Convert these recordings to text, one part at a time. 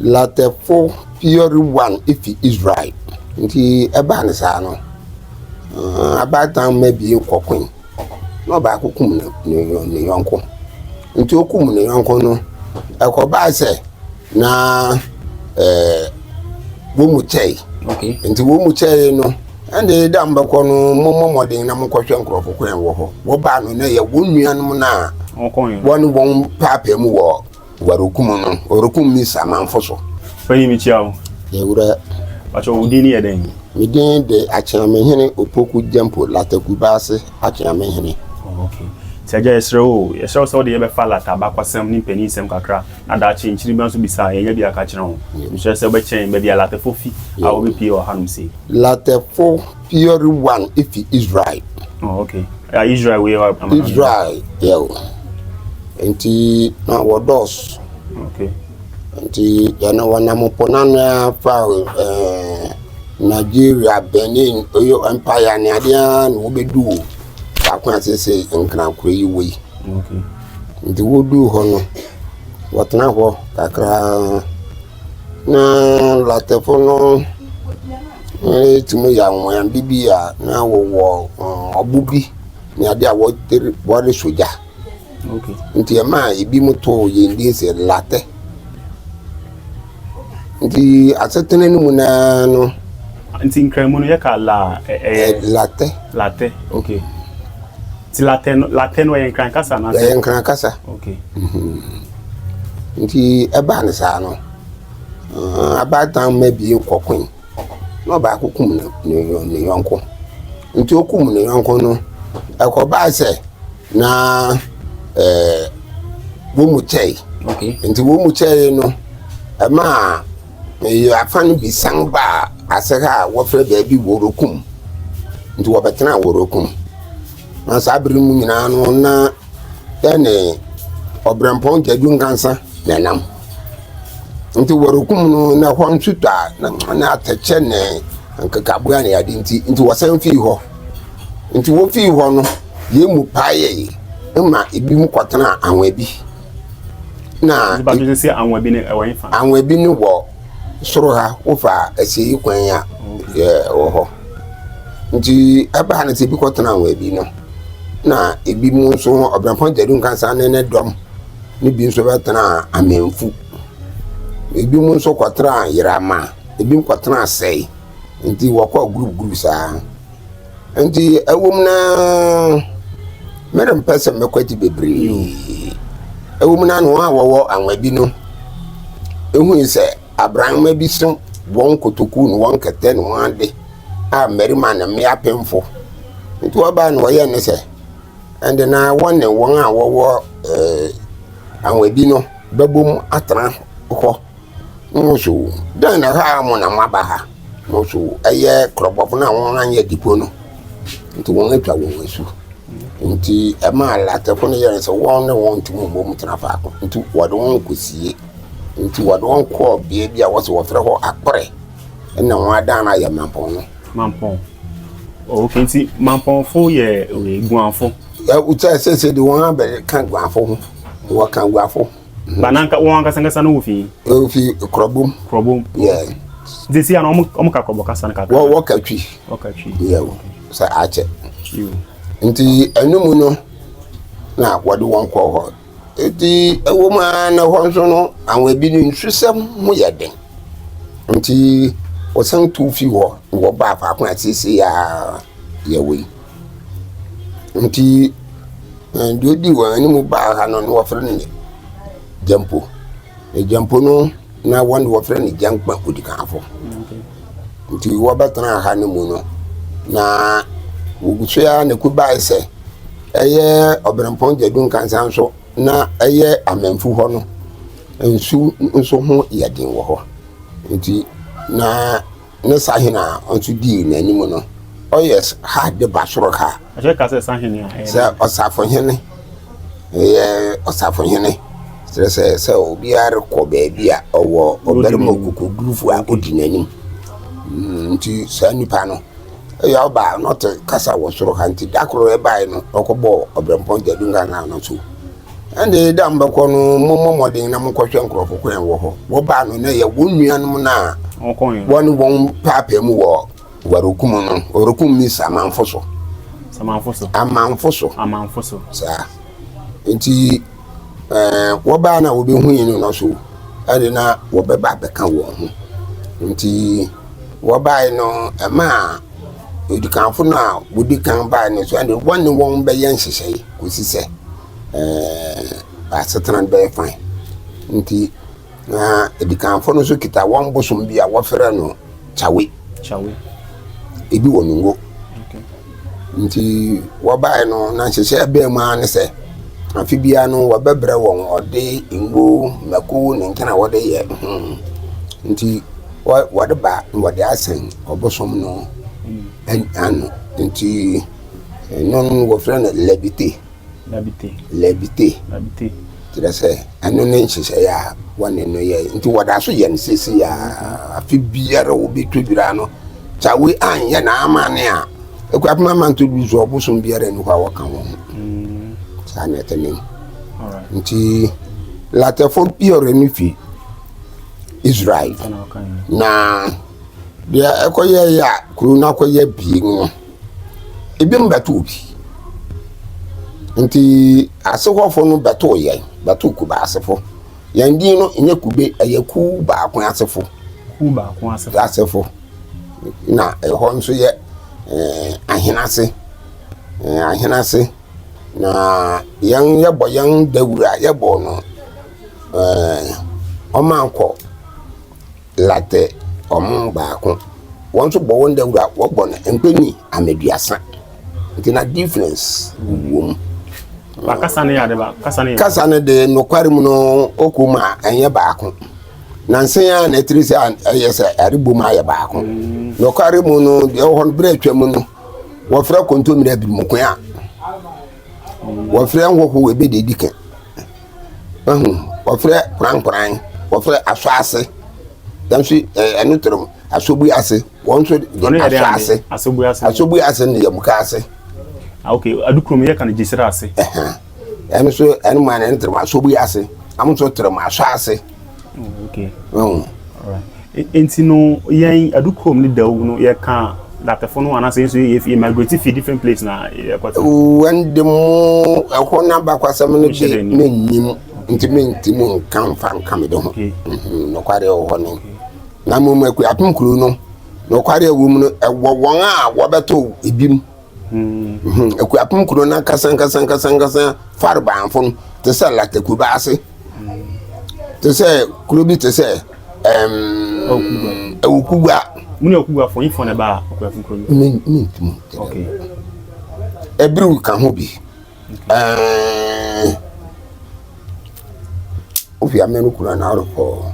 Latɛfo Fiori Wan fi Israel. Nti ɛbaa no saa no, abaatan mma abien kɔkoe, na ɔbaako kum ne yɔnko. Nti okum ne yɔnko no, ɛkɔbaa sɛ na ɛɛ wɔn mu kyɛe. Nti wɔn mu kyɛe no, ɛnna ɛda a mobɛkɔ no, mommɔ mmɔden na monkɔhwɛ nkurɔfo kwan wɔ hɔ. Wɔbaa no na ɛyɛ wɔn nuanom no a wɔne wɔn paapae mu wɔ Warukum no, ɔrekum me Samanfo so. Panyin mekyia wo. Yɛ wura. Pakyɛ wo din ne yɛ dɛn? Me din de Akyeamehene Opoku Gyampo Lata Kubaase Akyeamehene. Oh, okay. Nti agya yɛsrɛ wo, yɛsrɛ wo sɛ wode yɛbɛfa Lata abakɔsɛm ne mpanin nsɛm kakra na daakye nkyiri bia nso bisa a yɛnya bi aka akyerɛ wo. Mesrɛ sɛ wobɛkyɛn baabi a Latafo fi a wɔbɛpie wɔ hanom sei. Latafo Theory one efi Israel. Oh, okay. Uh, Israel wei yɛ amana. Israel yɛ o. Nti na wɔdɔɔso. Okay. Nti yɛne wɔnam po no ano a fa eh, Nigeria, Benin, Oyo Empire ne adeɛ a na wobɛdu o. Baako a sese nkrankorɔ yi wɔ yi. Okay. Nti woduu hɔ no, wɔtena hɔ kakra. Na Latefo no retumi yɛ anwonwade bi a na wɔwɔ mm, ɔbo bi ne ade a wɔde re- wɔresɔ gya Okay. nti ɛma ebinom too yɛn din sɛ latɛ nti asetena no mu naa no Nti nkramu no yɛka la ɛ- ɛ- ɛyɛ latɛ latɛ. Okay. Nti latɛ no latɛ no ɛyɛ nkran kasa na ɛyɛ nkran kasa Okay. Nti ɛbaa no saa no, abaatan mma abien kɔkoe, na ɔbaako kum ne yɔnko. Nti okum ne yɔnko no, ɛkɔbaa sɛ na ɛɛ wɔn mu kyɛe. Nti wɔn mu kyɛe no, ɛmaa afa no bi san baa ase ha a wɔfrɛ baabi Worokum. Nti wɔbɛtenaa Worokum. Na saa bere no mu nyinaa no, na yɛne ɔbrɛmpɔn gyadu nkansa na ɛnam. Nti wɔrekum no na hɔ nso tɔ a na na atɛkyɛ ne nkekaboa ne ade nti nti wɔsan fii hɔ. Nti wofii hɔ no, yɛn mu paee ma ebi mu kɔtena anwa bi. Na Nipa bi sɛ anwa bi ne ɛwɔ nfa. Anwa bi ne wɔ Soro ha, wofa asieyi kwan a, ɛwɔ hɔ. Nti ɛbaa no sɛ ebi kɔtenaa wɔn bi no, na ebi mu nso Ɔbɛnpɔn Gyadu Nkansah ne ne dɔm ne bi nso bɛtenaa Amemfu. Ebi mu nso kɔtenaa Yerama, ebi kɔtenaa Sɛe. Nti wɔkɔɔ group group saa. Enti ɛwom na merempɛ sɛ mɛkwati bebree. Ɛwom na wɔn a wɔwɔ anwa bi no hui sɛ abrannoma bi so wɔn nkotoku ne wɔn kɛtɛ ne wɔn ade a mmarima ne mmea apemfo. Enti wɔbaa na wɔyɛe ne sɛ, ɛnde na wɔne wɔn a wɔwɔ eh, anwa bi no bɛbom atena hɔ. Mosu, dɛn na ɛhaw mo na moaba ha? Mosu, ɛyɛ korɔbɔfo no a wɔanyɛ adipo no nti wɔatwa wɔn asu. Enti ɛmaa Latefo no yɛɛ sɛ wɔn ne wɔn ntumi mmom tena faako nti wɔde wɔn kosie. Enti wɔde wɔn kɔɔ beae bi a wɔse wɔfrɛ hɔ Akore na wɔadan no ayɛ mampɔn no. Mampɔn. Oh, okay, nti mampɔnfo yɛ eh, guanfo. Ɛwotɛ sɛ sɛ de wɔn abɛka guanfo ho. Wɔka guanfo. Ba na wɔn ankasa ankasa no wɔ fi? Ofi Krɔbom. Krɔbom. Yeah. Nti si ano wɔn ka Krɔbɔ kasa no kakra. Wɔ wɔ ka twi. Wɔ ka twi. Yeah o sɛ akyɛ. Nti ɛnu mu no na wɔde wɔn kɔ hɔ. Eti ɛwɔ mu ara na hɔ nso no àwọn ebi no nsusɛm ho yɛ den. Nti wɔsan tu fi hɔ na wɔbaa faako a sisi a yɛwɔ yi. Nti deɛ ɔdi wɔn anim baa ha no na wɔfrɛ no Gyampo. Na Gyampo no na wɔn deɛ wɔfrɛ no Gyankpa Odikanfoɔ. Nti wɔbɛtenaa ha no mu no, na wɔgu so ara na ɛkɔ bae sɛ ɛyɛ Ɔberempɔn Gyadu Nkansah nso na ɛyɛ Amanfu hɔ no nsu nso ho yɛ den wɔ hɔ. Nti na . Ne sahene a ɔnso dii n'anim no, ɔyɛ ha de ba soro ha. Ɛkyɛ ka sɛ sahene a ɛyɛ. Sɛ ɔsafohene, ɛyɛ ɔsafohene. Kyerɛ sɛ sɛ obiara rekɔ baabi a ɔwɔ ɔbarima ɔkokodurufo a ɔdi n'anim. Mm, nti saa nipa no ɛyɛ ɔba a na ɔte kasa wɔ soro ha nti da koro ɛbae no ɔkɔbɔɔ ɔbrɛmpɔn gyadunkankan no so. Ɛnde da a mobɛkɔ no, mommɔ mmɔden na monkɔhwɛ nkurɔfo ko a ɛwɔ hɔ. Wɔbaa no na ɛyɛ wɔn nuanom no a wɔne wɔn paapae mu wɔ wɔrekum no, wɔrekum means amanfo so. Amanfo so. Amanfo so. Amanfo so. Saa. Nti, ɛɛ wɔbaa na wɔbɛhui no no so, ɛde na wɔbɛba abɛka wɔn ho. Nti, wɔbae no, ɛmaa odikanfo no a wɔdi kan bae no so, ɛde wɔne wɔn bɛyɛ nhyehyɛe. kɔsi sɛ bɛasetena no bɛyɛ fann. Nti na Adikanfoɔ no nso kita wɔn bosom bi a wɔfrɛ no Kyawe. Kyawe. Ebi wɔ ne ngo. Nti wɔbaeɛ no na nhyehyɛɛ bɛɛ mu ara ne sɛ afe biara no wɔbɛbrɛ wɔn ɔde, ngo, mako ne nkena a wɔde yɛ ho. Nti wɔde ba na wɔde asɛn ɔbosom no ano. Nti. Ɛno no wɔfrɛ no lɛbite. Lɛbite. Lɛbite. Lɛbite. Kyerɛ sɛ ɛno ne nhyehyɛeɛ a wɔne no yɛ nti wɔda so yɛ no sisi a afe biara wɔbɛtwa dwira no kyawe anyɛ n'amane a ɛkɔ apem ama nto du so ɔbosom biara ni hɔ a wɔka wɔn ho mm. saa na ɛte ne nti latɛfo biara no fi israel na deɛ ɛkɔyɛ yɛ a kuro no akɔyɛ bie no ebinom bɛtoo bi. Nti ase hɔfo no bɛtoo yɛn, bɛtoo Kuba asefo. Yɛn din no nyɛ Kube, ɛyɛ Kuw Baako Asefo. Kuw Baako Asefo. Asefo. Na ɛhɔ nso yɛ eh, ahenase. Eh, ahenase. Na yɛn yɛbɔ yɛn dawura, yɛbɔ no eh, ɔmankɔ. Latte, wɔn mu baako, wɔn nso bɔ wɔn dawura, wɔbɔ no mpɛni ameduasa, nti na difference wɔ mu. Ba kasa no yɛ ade ba, kasa no yɛ. Kasa no de nokware mu no ɔkɔ mu a ɛnyɛ baako. Na nsen a na ɛtiri sɛ ɛyɛ sɛ ɛrebɔ mu ayɛ baako. Mm. Nokware mu no deɛ ɛwɔ hɔ no berɛ atwa mu no wɔfrɛ kontomire abirimuko a wɔfrɛ nhoho ebi de di kan. Wahu? Wɔfrɛ korankoran, wɔfrɛ asɔase. Yɛn nso eh, ɛno toro mu, asɔbui ase. Wɔn nso Ɔno yɛ dɛ asɔ ase. ade asɔbu ase Asɔbui ase ne yamuka ase. Ah, ok adukuro mu yɛ ka no gyesira ase Ɛhɛn. Ɛno nso, ɛno mu a na ɛno toro mu, asɔbui ase. Wɔn nso toro mu, asɔ ase. Oh, okay. Oh. All right. Enti no yɛn adukurom ne dawu no yɛka datɛfo no anaasɛ nso yɛ yɛ migrate fi different place na yɛkɔte. Wɔn de mu ɛhɔ no abakwasɛm no de mennim nti menti mu nka mfa nka me de ho. Mhm, nokware wɔ hɔ no. Na mmom akuapem kuro no nokware wɔ mu no ɛwɔ wɔn a wɔbɛtɔ ebi mu. Hmm, Akuapem kuro no ankasa ankasa ankasa ankasa farebaafo no te sɛ Lata Kubaase te sɛ kuro bi te sɛ Awukugua. Mu na Awukuguafo yi fɔ na ɛbaa Akuapem kuro no. Mi mi ntumi. Okay. Ebiriw ka ho bi. Ofi amenu kura na arokɔ.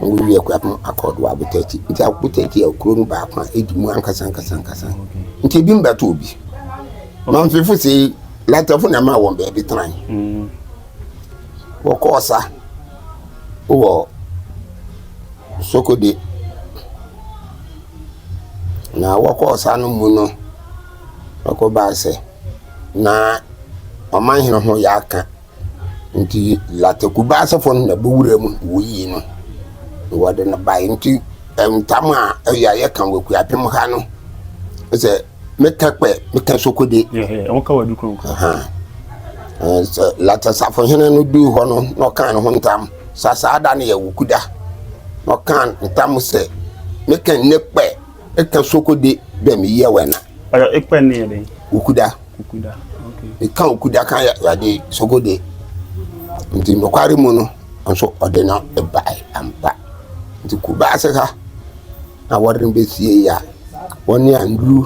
Wowie Akuapem Accord wɔ Abotɛkyi. Nti Abotɛkyi yɛ kuro no baako a ɛdi mu ankasa ankasa ankasa. Nti ebi mbɛto obi. Mamfefo sei, Latafo na ɛmaa wɔn baabi tenae. Mm. Wɔkɔɔ sa wɔ Sokode. Na wɔkɔɔ sa no mu no, wɔkɔbaa sɛ, na ɔman hene ho yɛ aka Nti Latrikubɛ asefo no na bowura mu woyii no, na wɔde no bae. Nti ntam a ɛyɛ a yɛka wɔ Akuapem ha no sɛ meka kpɛ, meka sokode. Wɔka wɔ adu kronkron. Sɛ Latra safohene no duu hɔ no na ɔkaa ne ho ntam sa saa da no yɛ wokuda. Na ɔkaa ntam sɛ meka nnɛ kpɛ, meka sokode dɛ meyɛ wɛna. Mpakyɛw ekpɛ no yɛ dɛn? Okuda. Okuda, ok. Yɛka okuda ka Awurade Sogode. Nti nokware mu no, nso ɔde no bae ampa. Nti Kumasi ha na wɔde no besie yi a, wɔne Andrew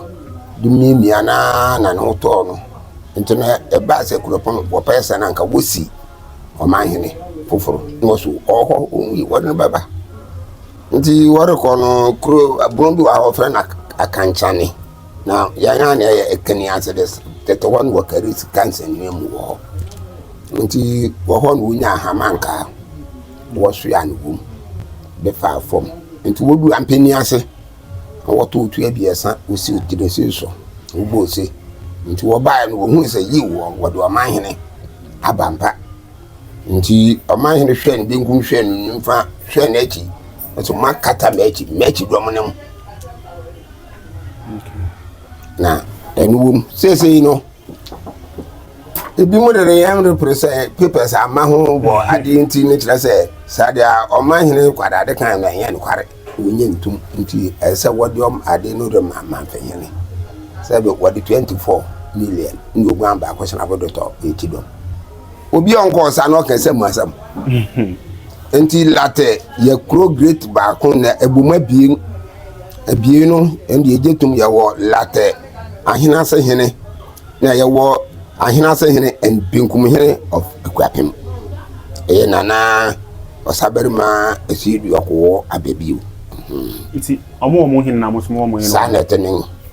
de miamia no ara na ne ho tɔɔ no. Nti no ɛbaa sɛ Kuropɔn wɔpɛɛ sɛ na anka wosi ɔmanhene foforo na wɔso ɔwɔ hɔ, wɔwui, wɔde no bɛba. Ntsi wɔrokɔ no, kuro bun bi wɔ hɔ a wɔfrɛ no Akankyane, na hɛn a na yɛyɛ Ekene ase dɛ tsetse hɔ no wɔkɛree sika nsɛndzɛwa mu wɔ hɔ. Ntsi wɔ hɔ no wonyaa hama nkaa, wɔsoaa no wɔ mu dze faa famu. Ntsi wodur Ampani ase na wɔtoo tu ebiasa wosiiw Tiresei so na wɔbɔɔ ose. Ntsi wɔbae no wohun dɛ yiw wɔdze ɔmanhene aba ampa. Nti ɔmanhene hwɛɛ ne benkum hwɛɛ ne nimfa hwɛɛ n'akyi, nso moakata m'akyi, m'akyi dɔm no mu. Na ɛno wom. Seesei no, ebi mu dede yɛn repere sɛ papers ama ho wɔ adeɛ nti ne kyerɛ sɛ saa deɛ ɔmanhene kwadade kan na ɛnyɛ nokware wɔnyɛ ntom nti ɛsɛ sɛ wɔde ɔm ade no de ma manfɛhene sɛ wɔde 24 million ne oguan baako sena abodotɔ ɛti dɔm obi a ɔnkɔɔ saa na ɔka sɛ mu asɛm nti latɛ yɛ kuro great baako na ɛbom abien abien no ɛnde ɛgye tom yɛwɔ latɛ ahenase hene na yɛwɔ ahenase hene and benkum hene of akuapem ɛyɛ nana ɔsabarima ɛsiedu ɔkowɔ abɛbio nti ɔmo ɔmo hene na ɔmo so ɔmo hene saa na ɛte ne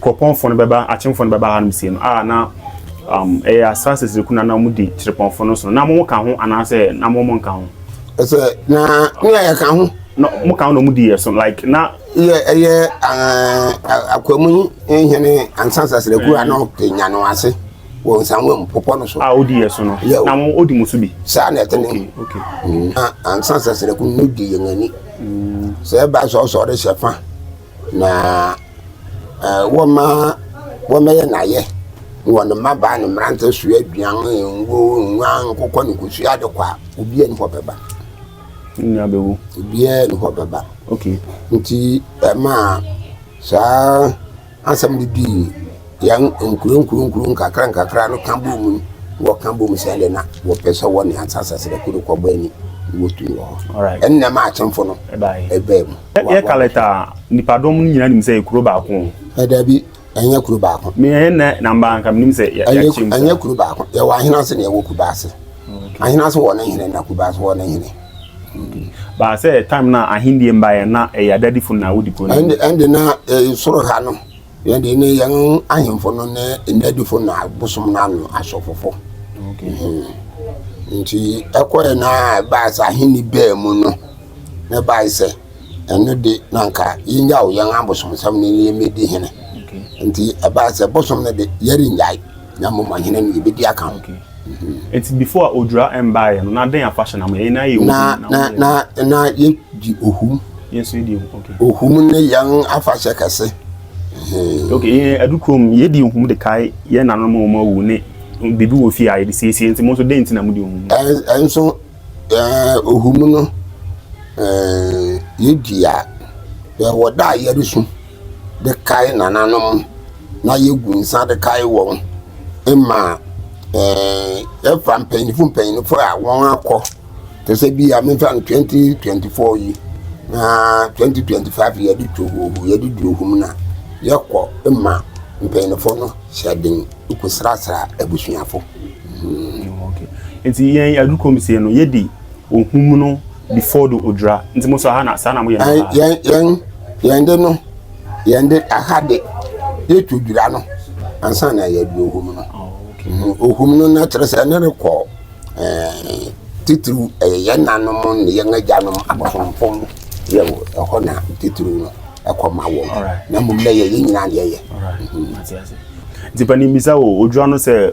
kuropɔnfo no bɛba, akyemfo no bɛba hanom sie no, a na um, ɛyɛ asaase siriku na na wɔdi kyerepɔnfo no so, na mo ka ho anaasɛ na mo mo nka ho? Ɛsɛ na ne a yɛka ho. Na mo ka ho na wɔn di yɛ so like na. Yɛ ɛyɛ akwamu nhene ansa sasiraku a na ɔte nya no ase wɔ nsanwa mu pɔpɔ no so. A odi yɛ so no. Na mo odi mo so bi. Saa na ɛte ne. Mm. Na ansa sasiraku no di yɛn ani. Mm. Sɛ ɛba sɛ ɔsɔre hyɛ fa. na wɔma wɔmɛyɛ no ayɛ na wɔde mmabaa ne mmerante soa aduan, ngo, nguan, nkokɔ ne kosua de kɔ a, obiara ni hɔ bɛba. Nyinaa bɛwu. Obiara ni hɔ bɛba. Okay. Nti ɛma saa asɛm de dii yɛn nkuro nkuro nkuro nkakra nkakra no ka bom mu wɔka bom sɛ de na wɔpɛ sɛ wɔne ansasasrɛ koro kɔbɔ ani wɔtumi wɔ hɔ. Ɛnna ɛma akyɛmfo no ɛbaa mu. Yɛ yɛ kalɛt a nipadɔm no nyinaa nim sɛ yɛ kuro baako. Ɛdaabi ɛnyɛ kuro baako. Mi ɛyɛ nɛ namba nka mi nim sɛ yɛ yɛ kyɛm. Ɛnyɛ kuro baako yɛ wɔ ahenase na yɛ wɔ kubaase. Ahenase wɔ ne hene na kubaase wɔ ne hene. Baasɛ time na ahendie mba yɛ na ɛyɛ adadifo na wodi kuro no. Ɛnde ɛnde na soro ha no. Yɛn deɛ ne yɛn ahemfo no ne nnadifo na bosom no ano asɔfofo. Nti ɛkɔɛ no a ɛbaa sɛ ahenni baa mu no, na ɛbae sɛ ɛno de na anka yɛnyaw yɛn abosomsɛm no na yɛmmɛdi hene. Nti ɛbaa sɛ bosom no de yɛrennyae. Na mmom ɔhene no yɛbɛdi aka ho. Nti before a odwira mbaeɛ no na dɛn afahyɛ na mo yɛ? Yɛn nyinaa yɛ ohum na na wɔyɛ. na na yɛdi ohum. Yɛn nso yɛdi ohum okay. Ohum ne yɛn afahyɛ kɛse. Okay yɛn adu kurom yɛdi ohum de kae yɛn nanom a wɔn awu ne biribi wɔ fie a yɛde siesie nti mo nso dɛn nti na mo di ohum no? Ɛnso ɛɛ ohum no ɛɛ yɛdi a ɛwɔ da a yɛresu. de kae nananom na yegu nsa de kae wɔn ma yɛfa mpanyinfo mpanyinfo a wɔn akɔ te sɛ bi a mefa no twɛnti twɛnti fɔɔ yi na twɛnti twɛnti faiv yi yɛde tu hoo hoo yɛde duru hum na yɛkɔ ma mpanyinfo no hyɛ den kɔ srasra abusuafo. Nti yɛn adu kɔm sie no yɛde ohum no. before do odwira nti mo nso aha na saa na mo yɛ no paa. yɛn yɛn yɛn de no yɛn de aha de yɛ tu dwira no ansa na yɛ de ohum no mhm, ohum no na kyerɛ sɛ ɛne rekɔ ɛɛ titiriw ɛyɛ yɛn nanom ne yɛn agyanom abosomfo no yɛ wɔ ɛhɔ na titiriw no ɛkɔ ma wɔn na mmom na yɛ yɛn nyinaa na yɛyɛ. Mhm. nti panin bisa o odwira no sɛ.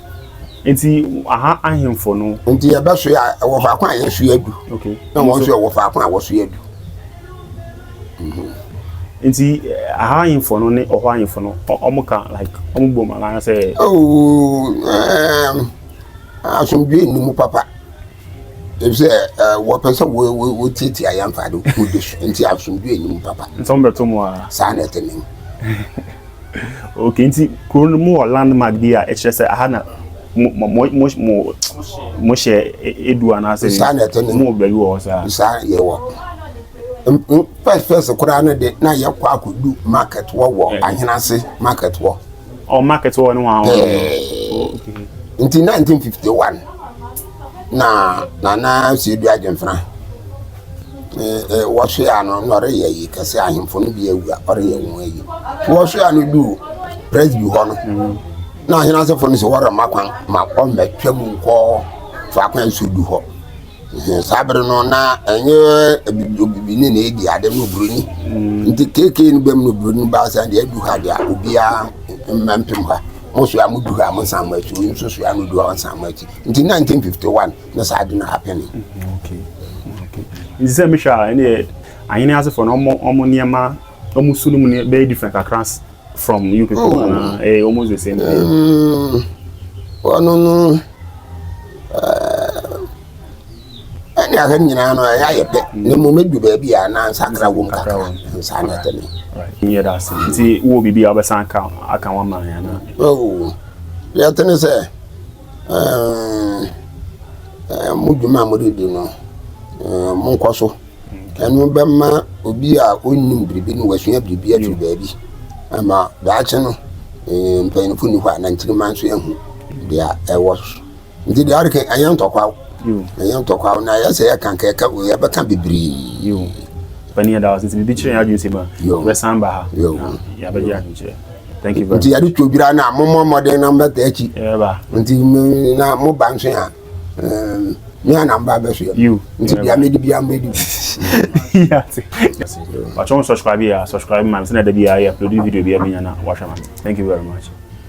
Nti aha ahemfo no. Nti yɛbɛsoe a ɛwɔ faako a yɛsoe adu. Okay. Na wɔn nso ɛwɔ faako a wɔsoe adu. Mhm. Nti aha eh, ahemfo no ne ɔhɔ ahemfo no wɔn ka like wɔn bom anaasɛ. Oh, um, asomdwe nni mu papa. Efisɛ wɔpɛ sɛ wotiatia yɛn fa ade horow bi so, enti asomdwoe nnim papa. Nsɛm bɛto mo ara. Saa na ɛte nen. Okay, nti kurow no mowɔ landmark bi a ɛkyerɛ sɛ aha na mohyɛ adu anaasɛ? Saa na ɛte nen. Mowɔ baabi wɔ hɔ saa? Saa yɛwɔ. First first koraa no de, na yɛkɔ akɔdu market hɔ wɔ Ahenase market hɔ. Oh, market wɔ ne ho ahɔ. Nti 1951 na nana Sedu Agyenfra wɔhwe a no na ɔreyɛ yi kɛse ahemfo no bi awu a ɔreyɛ wɔn ayi. Wɔhwe a no du Presby hɔ no mm-hmm. na ahene asefo no sɛ wɔrema kwan ma ɔmmɛtwa mu nkɔ faako a nsuo du hɔ. Saa bere no na ɛnyɛ obibini na edi ade no oburoni. Mm. Nti KK no bɛm no oburoni baa sɛ deɛ adu ha deɛ obiara mma mpem ha. Mo soa mo du ha mo nsan mo akyi nso soa no du ha nsan mo akyi. Nti 1951 na saa ade no happen. Mm-hmm. Okay. Okay. Nti sɛ mehwɛ a ɛne ahene asefoɔ no ɔmo ɔmo nneɛma ɔmo su no mu bɛyɛ different kakra from you people oh. anaa eh, almost the same thing. Mm, well, no, no. ɛne eh, ahwɛ nyinaa no ɛyɛ ayɛ dɛ na mmom ɛdu baabi a na nsakra wom kakra nsa na ɛtɛne yɛ da ase nti wowɔ biribi a wobɛsan aka aka wo ama ana oh, yɛtene sɛ eh, eh, mo dwuma a mode di no monkɔ so Ɛno bɛma obi a ɔnnim biribi no wasua biribi afiri baabi ama daakye no mpanyinfo nni hɔ a na nkyirimma nso ahu deɛ ɛwɔ so nti deɛ ɔde kan ɛnyɛ ntɔkwaw ɛnyɛ ntɔkwaw na yɛsɛ yɛka nka yɛka yɛbɛka bebree. Pani ɛda ɔsɛ sɛ biribi kyerɛ yɛn adwene sɛ ma yɛbɛsan ba ha yɛabɛgye adwenkyerɛ nti yɛde twodwira no a mommɔ mmɔden na mbɛta akyi nti na moba nso a me ana mba abɛhwɛ you nti bia medi bia mbɛdi watwɔn subscribe yɛ subscribe ma me sɛ na da bi a yɛ upload video bi a menya na wahwɛ ma me thank you very much